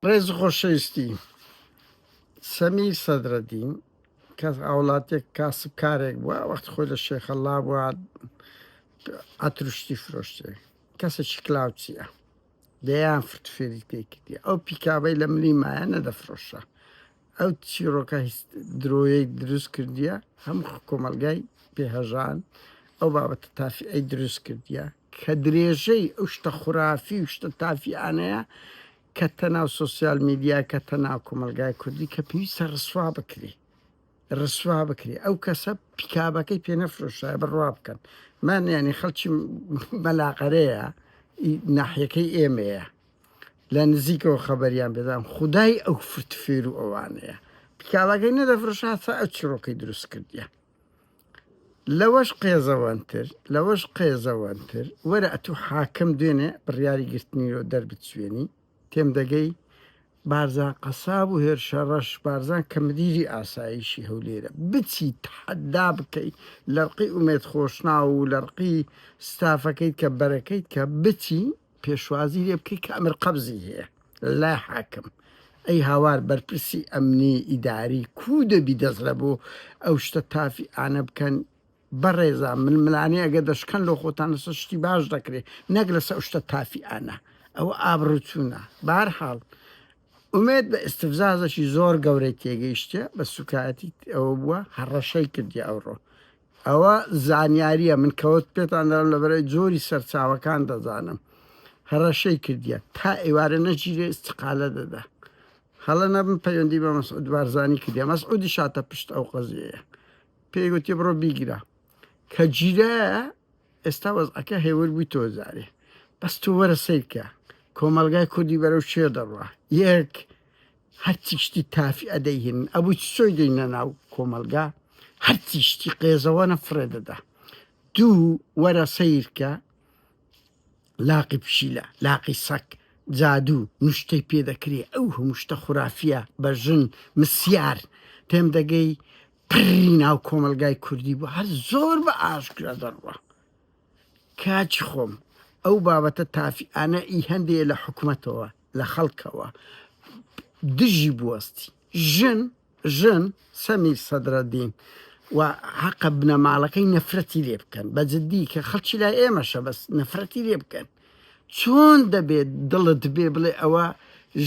ڕێز و خۆشەویستی سەمیر سەدرەدین کەس هاوڵاتێک کاسبکارێک بووە وەختی خۆی لە شێخەڵا بووە ئەتروشتی فرۆشتێ کەسێکی کلااوچیە دەیان فرت فێری پێکردی ئەو پیکابەی لە ملی مایە نەدەفرۆشە ئەو چیرۆکە هیچ درۆیەک دروست کردیە هەم کۆمەلگای پێهژان ئەو بابەتە تافی ئەی دروست کردیە کە درێژەی ئەو شتە خورافی و شتە تافیانەیە کەتتە ناو سۆسیال میدیا کەتتە ناو کۆمەڵگای کوردی کە پێویستە ڕسوا بکری ڕسوا بکری ئەو کەسە پیکابەکەی پێ نەفرۆشایە بڕوا بکەن من یعنی خەڵکی مەلاقەرەیە ناحیەکەی ئێمەیە لە نزیکەوە خەبەریان بێدان خدای ئەو فرتفێر و ئەوانەیە پیکابەکەی نەدەفرۆشاتە ئە چڕۆکەی دروست کردیە لەوەش قێزەوەنتر لەوەش قێزەوەنتر وەرە ئەتوو حاکم دوێنێ بڕیاری گرتنی لۆ دەربچوێنی تێم دەگەی بارزان قەساب و هێرشە ڕەش بارزان کە مدیری ئاسایشی هەولێرە بچی تحدا بکەی لەرقی ئومێد خۆشناو و لەرقی ستافەکەیت کە بەرەکەیت کە بچی پێشوازی لێ بکەی کە ئەمر قەبزی هەیە لای حاکم ئەی هاوار بەرپرسی ئەمنی ئیداری کو دەبی دەست لە بۆ ئەو شتە تافی ئانە بکەن بەڕێزا ململانێ ئەگە دەشکەن لۆ خۆتان لەسە شتی باش دەکرێت نەک لەسە شتە تافی ئانا ئەوە ئابڕوچوونە بار حاڵ ئومێت بە ئستفزازەکی زۆر گەورەی تێگەیشتە بە سوکایەتی ئەوە بووە هەڕەشەی کردی ئەوڕۆ ئەوە زانیاریە من کەوەت پێتان دەڵێم لەبەرای جۆری سەرچاوەکان دەزانم هەڕەشەی کردیە تا ئێوارە نەگیرێ ئیستقالە دەدا هەڵە نەبم پەیوەندی بە مەسعود بارزانی کردیە مەسعودی شاتە پشت ئەو قەزیەیە پێی گوتی بڕۆ بیگرە کە گیرە ئێستا وەزعەکە هێور بووی تۆ جارێ بەس تۆ وەرە سیرکە کۆمەلگای کوردی بەرەو شێ دەڕوە یەک هەرچی شتی تافی ئەدەیهێنن ئەبوی چسۆی دەینە ناو کۆمەلگا هەرچی شتی قێزەوەنە فڕێ دەدا دوو وەرە سەیرکە لاقی پشیلە لاقی سەک جادو نوشتەی پێ دەکری ئەو هەموو شتە خورافیە بە ژن مسیار تێم دەگەی پری ناو کۆمەلگای کوردی بوو هەر زۆر بە ئاشکرا دەڕوا کاچی خۆم ئەو بابەتە تافی ئانە ئی هەندێ لە حکومەتەوە لە خەڵکەوە دژی بوەستی ژن ژن سەمیر سەدرەدین و حەقە بنەماڵەکەی نەفرەتی لێ بکەن بە جددی کە خەڵکی لای ئێمەشە بەس نەفرەتی لێ بکەن چۆن دەبێت دڵت بێ بڵێ ئەوە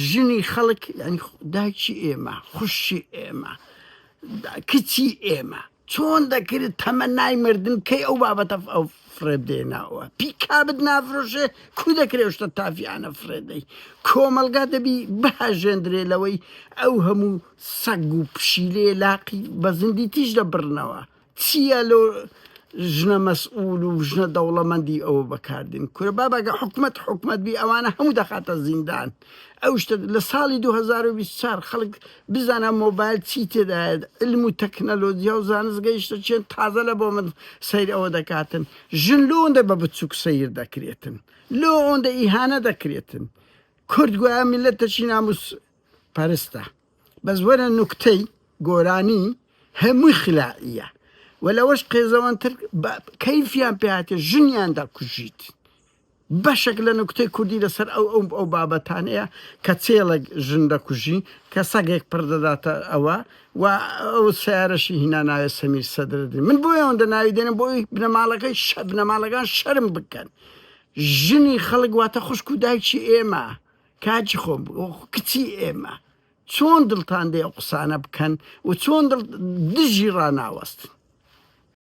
ژنی خەڵک ینی داکی ئێمە خوشی ئێمە کچی ئێمە چۆن دەکرد تەمەنای مردن بکەی ئەو بابەتە ئەو فرێب دێناوە پیکابت نافرۆشێ کو دەکرێ شتە تافیانە فرێدەی کۆمەلگا دەبی بهاژێندرێ لەوەی ئەو هەموو سەگ و پشیلێ لاقی بە زندی تیژ دەبڕنەوە چییە لۆ ژنە مەسئول و ژنە دەوڵەمەندی ئەوە بەکاردێن کورە بابەگە حکومەت حکومەت بی ئەوانە هەموو دەخاتە زیندان ئەو شتە لە ساڵی 2024 خەڵک بزانە مۆبایل چی تێدایە علم و تەکنەلۆجیا و زانست گەیشتە چێن تازە لە بۆ من سەیر ئەوە دەکاتن ژن لۆ ئەوەندە بە بچووک سەیر دەکرێتن لۆ ئەوەندە ئیهانە دەکرێتن کورد گوایە میلەتەکی ناموس پەرستە بەس وەرە نوکتەی گۆرانی هەمووی خلاعیە و لەوەش قێزەوەنتر کەیفیان پێاتێ ژنیان دەکوژیت بەشێک لە نوکتەی کوردی لەسەر ئەو ئەو بابەتانەیە کە چێڵێک ژن دەکوژی کە سەگێک پڕ دەداتە ئەوە و ئەو سەیارەشی هینا ناوێ سەمیر سەدرەدین من بۆی ئەوەندە ناوی دێنم بۆی بنەماڵەکەی شە بنەماڵەکان شەرم بکەن ژنی خەڵک واتە خوشک و دایکی ئێمە کاجی خۆم کچی ئێمە چۆن دڵتان دێ ئەو قسانە بکەن و چۆن دڵ دژی ڕاناوەستن